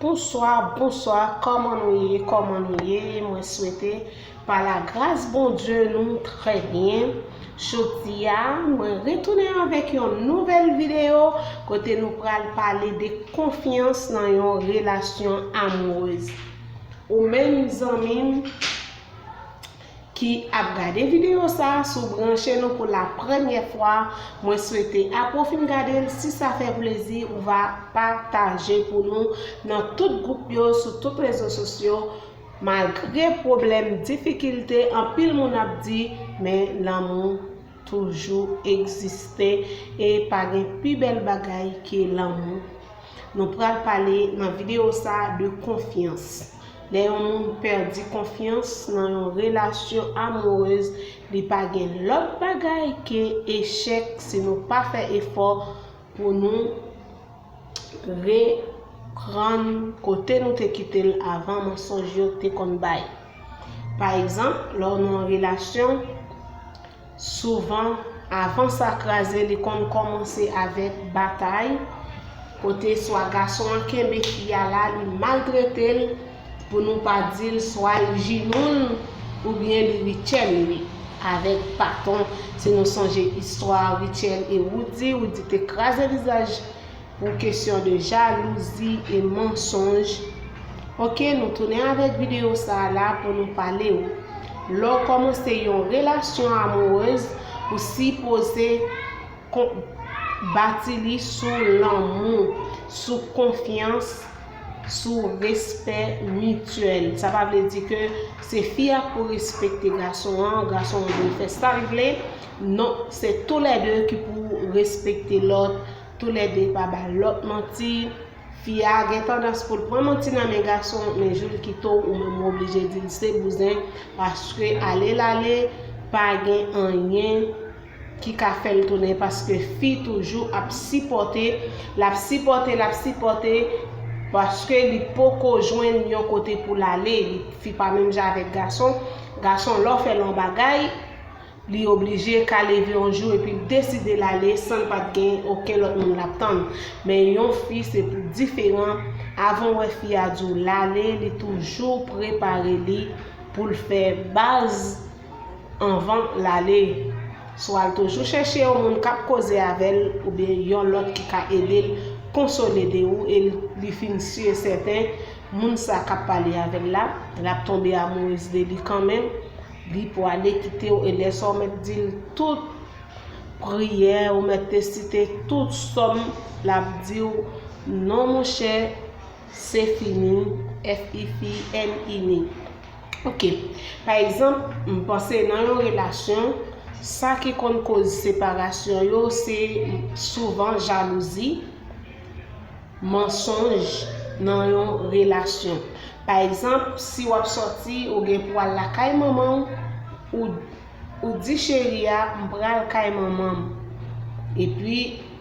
Bonswa bonswa kòman nou ye kòman nou ye mwen swete pa la gras Bondye nou trè byen jodi a mwen retounen avèk yon nouvèl videyo kote nou pral pale de konfyans nan yon relasyon amourez ou menm zanmim ki ap gade video sa si w branche nou pou la premyè fwa mwen swete apre w fin gade l si sa fè plezi ou va pataje pou nou nan tout gwoup yo sou tout rezo sosyo malgre pwoblèm difikilte anpil moun ap di men lanmou toujou egziste e pa gen pi bèl bagay ke lanmou. Nou pral pale nan videyo sa de konfyans. Lè yon moun pèdi konfyans nan yon relasyon amourez li pa gen lòt bagay ke echèk si nou pa fè efò pou nou Reprann kote nou te kite l avan mansonj yo te konn bay. Pa egzanp, lè w nan yon relasyon, souvan, avan sa kraze li konn kòmanse avèk batay, kote swa gason an kenbe fi a la, li maltrete l, Pou nou pa dil swa li jinoul ou byen li Rutshelle li wi avèk baton si nou sonje istwa Rutshelle e Roody Roody te kraze vizaj pou kesyon de jalouzi e mansonj ok nou tounen avèk video sa la pou nou pale ou lè ou kòmanse yon relasyon amourez ou sipoze bati li sou lanmou sou konfyans sou respè mityèl. Sa pa vle di ke se fi a pou respekte gason an, gason an dwe fè sa l vle. Non, se tou lè 2 ki pou respekte lòt, tou lè 2 pa ba lòt manti. Fi a gen tandans pou l pran manti nan men gason, men jou l kite w, ou menm ou oblije di l se bouzen, paske ale l ale, pa gen anyen ki ka fèl tounen paske fi toujou ap sipòte lap sipòte lap sipòte paske li poko jwenn yon kote poul ale li fi pa menm jan avèk gason gason lèw fèl yon bagay li oblije ka leve yon jou epil deside lale sanl pat gen oken lòt moun lap tann men yon fi se pou diferan avanw wè fi a diw lale li toujou prepare li poul fè baz anvan l ale. Swa l toujou chèche yon moun k ap koze avè l oubyen yon lòt ki ka ede l konsole de ou e li fin si e sèten moun sa k ap pale avè l la, l ap tonbe amourez de li kanmenm, li pwale kite w e lè sa w mèt di l tout priyè ou mèt te site tout sòm l ap di w non monchè se fini FIFININI. Ok, pa egzanp, m panse nan yon relasyon, sa ki konn koz separasyon yo se souvan jalouzi, mansonj nan yon relasyon. Pa egzanp, si w ap sòti, ou gen pou w al lakay manman w, ou di cheri a m pral kay manman m. Epi,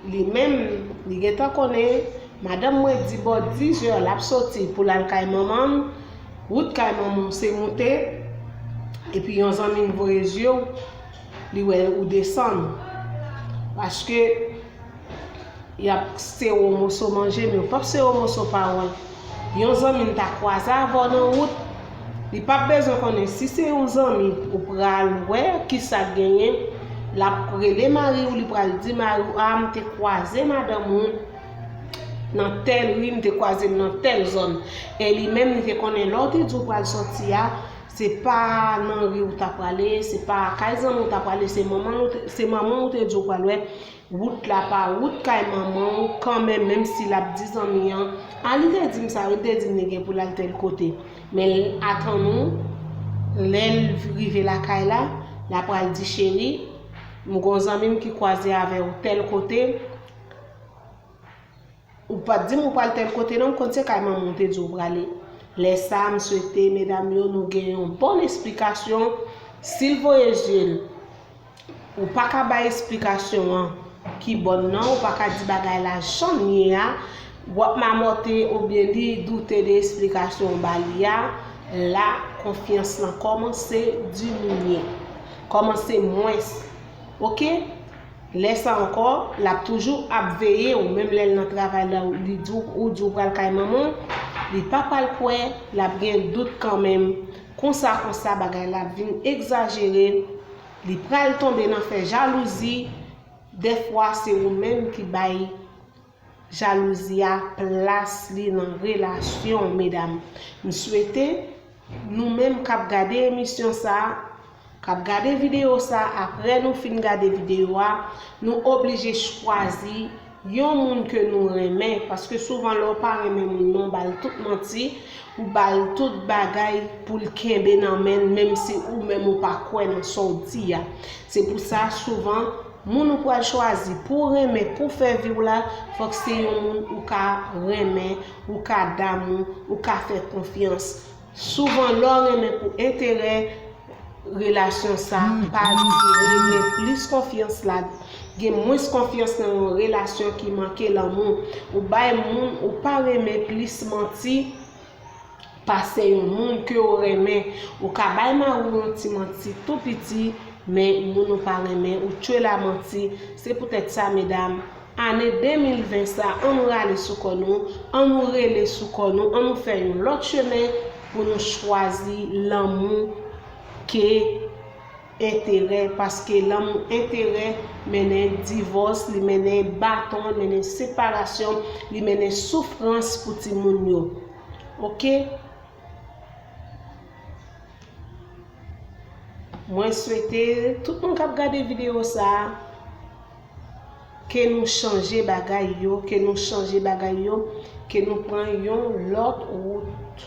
li menm, li gentan konnen, madanm mwen di bò dizè l ap sòti pou l al kay manman m, Wout kay manman w se moute, epi yon zanmi l voye zye w, li wè ou desann. Paske, y ap kse w moso manje, men yo p ap kse w moso pawòl. Yon zanmi l ta kwaze avè w nan wout, li p ap bezwen konnen si se yon zanmi ou pral wè, ki sa k genyen, l ap rele mari w, li pral di mari w, a m te kwaze madanm ou, Nan tèl ri m te kwaze l nan tèl zòn e li menm li te konnen lè w te di w pral sòti a se pa nan ri w ta prale se pa kay zanmi w ta prale se manman w te di w pral wè wout la pa wout kay manman w kanmenm menm si l ap di zanmi an a li te di m sa wi li te di m li gen pou l al tèl kote men l atann ou lè l rive lakay la l apral di cheri m gon zanmi m ki kwaze avè w tèl kote Ou pat dim ou pral tel kote non m konn se kay manman w te di w prale lè sa m swete medam yo nou gen yon bon esplikasyon sil voye je l ou paka bay esplikasyon an ki bon nan ou paka di bagay la janm ye a wap mamote oubyen li doute de esplikasyon w ba li a la konfyans lan komanse diminye komanse mwens ok Lè sa ankò, l ap toujou ap veye w menm lè l nan travay la ou li di w ou di w pral kay manman w, li pa pral kwè, l ap gen dout kanmenm, konsa konsa bagay la ap vin egzajere, li pral tonbe nan fè jalouzi, dèfwa se ou menm ki bay. Jalouzi a plas li nan relasyon w medam. M swete nou menm kap gade emisyon sa, kap gade videyo sa aprè nou fin gade videyo a, nou oblije chwazi yon moun ke nou renmen paske souvan lè w pa renmen moun nan w bal tout manti, Ou bal tout bagay poul kenbe nan menn menm si ou menm ou pa kwè nan sow di a. Se pou sa souvan moun ou pral chwazi pouw renmen pou fè viw la fòk se yon moun ou ka renmen, ou ka damou, ou ka fè konfyans. Souvan lèw renmen pou enterè, relasyon sa pa dire gen plis konfyans la gen mwens konfyans nan yon relasyon ki manke lanmou ou bay moun ou pa renmen plis manti pase yon moun ke ou renmen ou ka bay mari w yon ti manti tou piti men moun ou pa renmen ou tchwel a manti se poutèt sa medam Ane 2020 sa annou rale sou kò nou, annou rele sou kò nou, annou fè yon lòt chemen pou nou chwazi lanmou ke enterè paske lanmou enterè mennen divòs, li mennen baton, li mennen separasyon, li mennen soufrans pou timoun yo. Ok? Mwen swete tout moun kap gade video sa. Ke nou chanje bagay yo, ke nou chanje bagay yo, ke nou pran yon lòt wout.